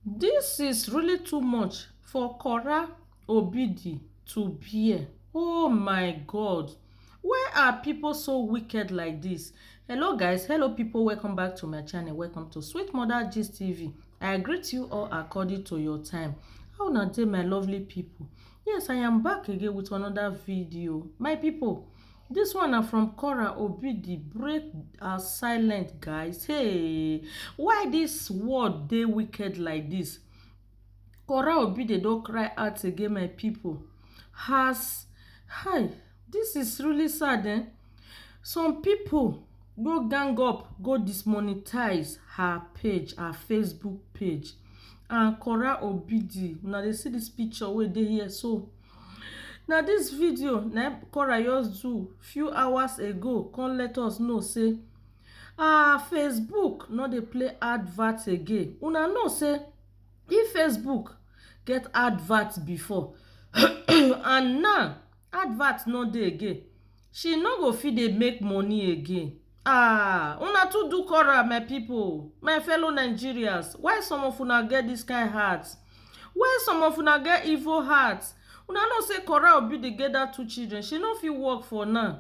Dis is really too much for Kora Obidi to bear oh my God why are people so wicked like this hello guys hello people welcome back to my channel welcome to Sweet Mother Gist TV I greet you all according to your time how una dey my lovely people yes I am back again with another video my people This one na from Cora Obidi break her silent guys hey why this world dey wicked like this Cora Obidi don cry out again my people has hi this is really sad eh some people go gang up go dismonetize her page her Facebook page and Cora Obidi una dey see this picture wey dey here so. Na dis video na im Cora just do few hours ago come let us know sey um Facebook no dey play advert again. Una know sey if Facebook get advert before and now advert no dey again She no go fit dey make money again ah una too do chora my people my fellow Nigerians why some of una get this kind heart why some of una get evil heart una know say chora obi dey get that two children she no fit work for now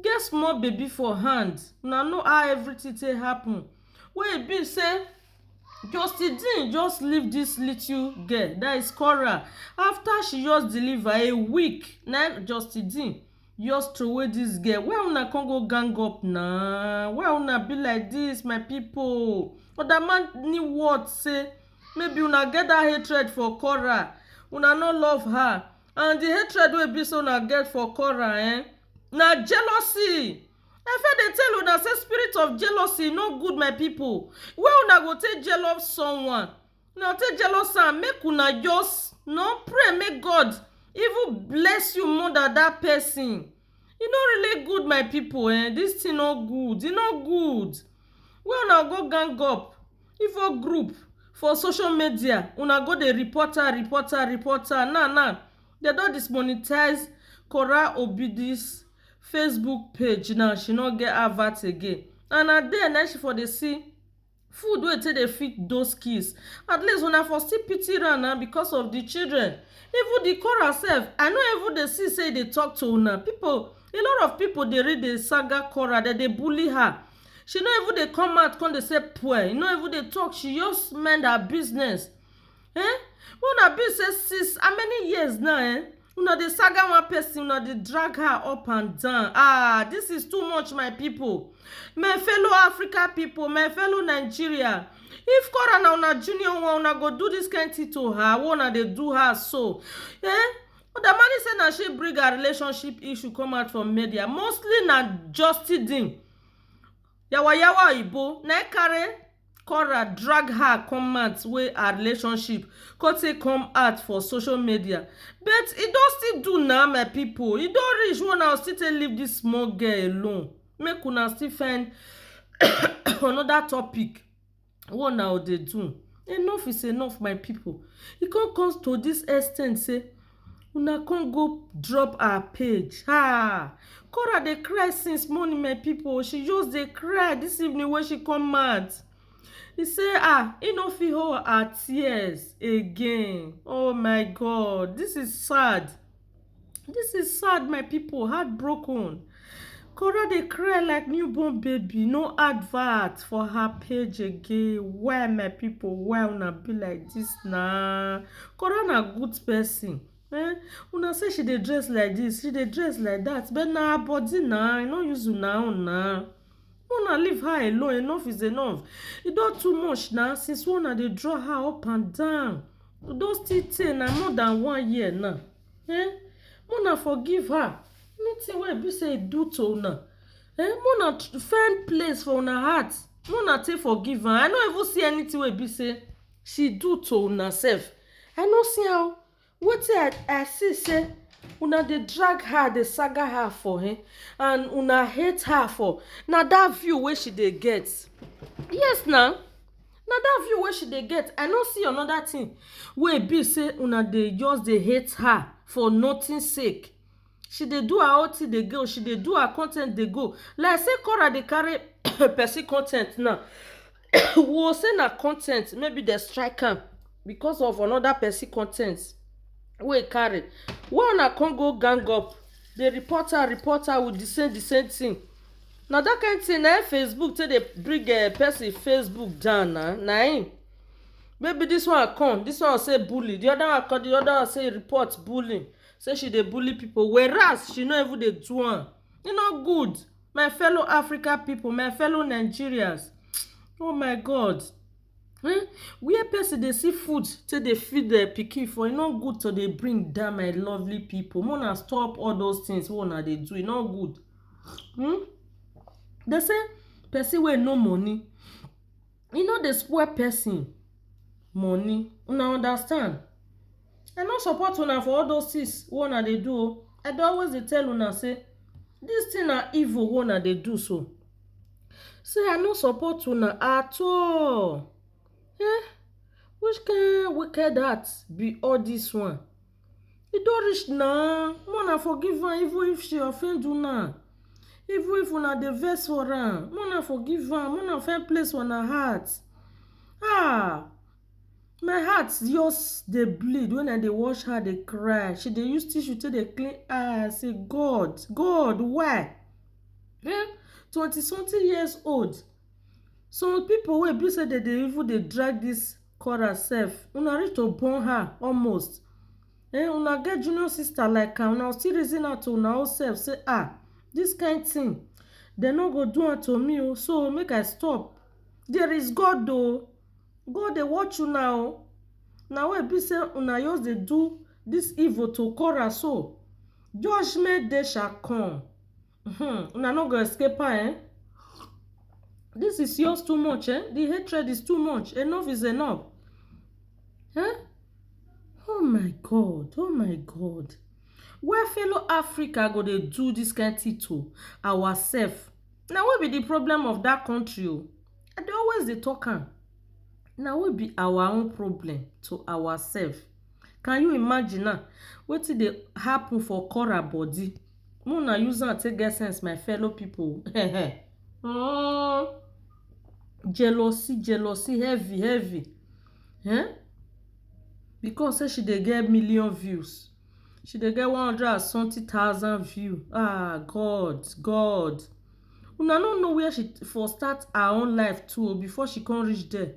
get small baby for hand una know how everything take happen wey e be say Justin Dean just leave this little girl that is Cora after she just deliver a week na Justin Dean just throway this girl why una come go gang up na why una be like this my people other man ni word say maybe una get that hatred for Cora una no love her and the hatred wey be say una get for Cora eh na jealousy Efe dey tell una say spirit of jealousy no good my people wey una go take jealous someone una take jealous am make una just no pray make God even bless you more than that person e no really good my people eh this thing no good e no good wey una go gang up info group for social media una go dey report am report am report am now now dem don dismonetize Kora Obidis facebook page now she no get advert again and na there na she for dey see food wey take dey feed those kids at least una for still pity am na because of the children even the chorus sef i no even dey see say e dey talk to una people a lot of people dey read the saga chorus dem dey bully her she no even dey come out come dey say poor e no even dey talk she just mind her business eh una be say since how many years now eh una dey saga one person una dey drag her up and down ah this is too much my people my fellow africa people my fellow nigeria if kora na una junior one una go do this kind thing to her wey una dey do her so eh odamani say na she bring her relationship issue come out for media mostly na justidine yawa yawa oyibo na e carry Cora drag her come mat wey her relationship come take come out for social media but e don still do na my people e don reach wey una still take leave this small girl alone make una still find another topic wey una go dey do enough is enough my people e come come to this ex ten t say Una come go drop her page haa Cora dey cry since morning my people she just dey cry this evening wey she come out he say ah he no fit hold her tears again oh my god this is sad this is sad my people heartbroken Kora dey cry like newborn baby, no advert for her page again. Why my people, why una be like this na? Kora na good person. Eh? Una say she dey dress like this, she dey dress like that, but na her body na, e no use una own na. Una leave her alone, enough is enough. E don too much na, since una dey draw her up and down. E don still tey na, more than one year now. Eh? Mona forgive her. Nothing wey be say e do to una. Eh? Mona find place for una heart. Mona take forgive her. I no even see anything wey be say she do to una sef. I no see am. Wetin I, I see say una dey drag her, dey saga her for eh, and una hate her for na that view wey she dey get. Yes na. na that view wey she dey get i no see another thing wey be say una dey just dey hate her for nothing sake she dey do her own thing dey go she dey do her content dey go like say Cora dey carry person content now wo say na content maybe dem strike am because of another person content wey e carry why una come go gang up dey report her report her with the same the same thing. Na that kind thing na Facebook take dey bring eh, person Facebook down na na im maybe this one come this one say bully the other one come the other one say report bullying say she dey bully people whereas she no even dey do am e no good my fellow Africa people my fellow Nigerians oh my God um where person dey see food take dey feed um pikin for e no good to dey bring down my lovely people make una stop all those things wey una dey do e no good um dey say person wey no money e no dey spoil person money una understand I no support una for all those things wey una dey do o. I dey always dey tell una say this thing na evil wey una dey do so. Say I no support una at all. Eh! Which kind wicked heart be all this one? E don reach na, make una forgive am even if she offend una. Even if una dey vex for am, make una forgive am, make una find place for una heart. Ah! My heart just dey bleed when I dey watch her dey cry. She dey use tissue take dey clean eye. I say, God, God, why? Eh? Twenty something years old. Some people wey be say dem dey even dey drag this Cora sef, una reach to born her almost. Eh, una get junior sister like am, una still reason am to una own self say, ah, this kind thing, dem no go do am to me o, so make I stop. There is God o. God dey watch una o. Na why e be say una just dey do this evil to Korah so? Judgment day shall come. Hmm, una no go escape am eh. This is yours too much eh. The hatred is too much. Enough is enough. Eh? Oh my God, oh my God. Why fellow Africa go dey do this kind thing to ourself? Na we be the problem of that country o. I dey always dey talk am na we be our own problem to ourself can you imagine now wetin dey happen for Cora body make una use am take get sense my fellow people um jealousy jealousy heavy heavy um because say she dey get million views. She dey get one hundred and something thousand view. Ah God, God. Una no know where she for start her own life too before she come reach there.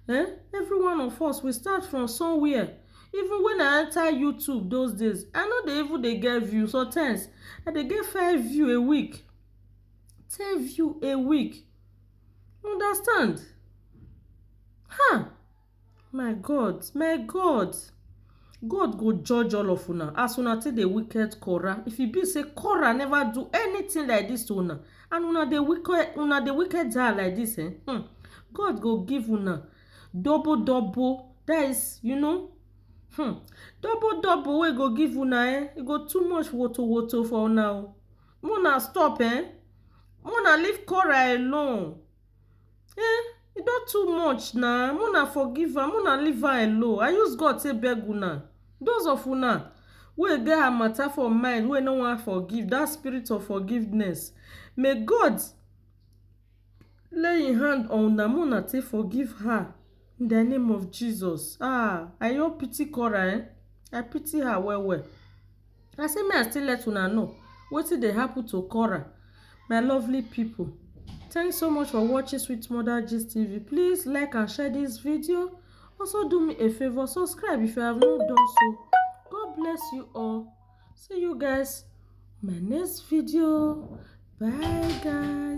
Eh? Every one of us we start from somewhere. Even when I enter YouTube those days, I no dey even dey get view. Sometimes I dey get five view a week, ten view a week. You understand? Ha! My God, my God, God go judge all of una as una take dey wicked Korah. If e be say Korah never do anything like this to una and una dey wicked una dey wicked her like this eh, hmm, God go give una double double that is you know hmm, double double wey go give una eh, e go too much woto woto for una o. Make una stop eh, make una leave Korah alone. e don too much na make una forgive am make una leave her alone i use God take beg una those of una wey get her matter for mind wey no wan forgive that spirit of forgiveness may God lay him hand on una make una take forgive her In the name of Jesus. Ah, I don pity Cora eh. I pity her well well. I say me I still let una know wetin dey happen to Cora. My lovely people. Thanks so much for watching Sweet Mother Gist TV. Please like and share this video. Also do me a favor, subscribe if you have not done so. God bless you all. See you guys my next video. Bye guys.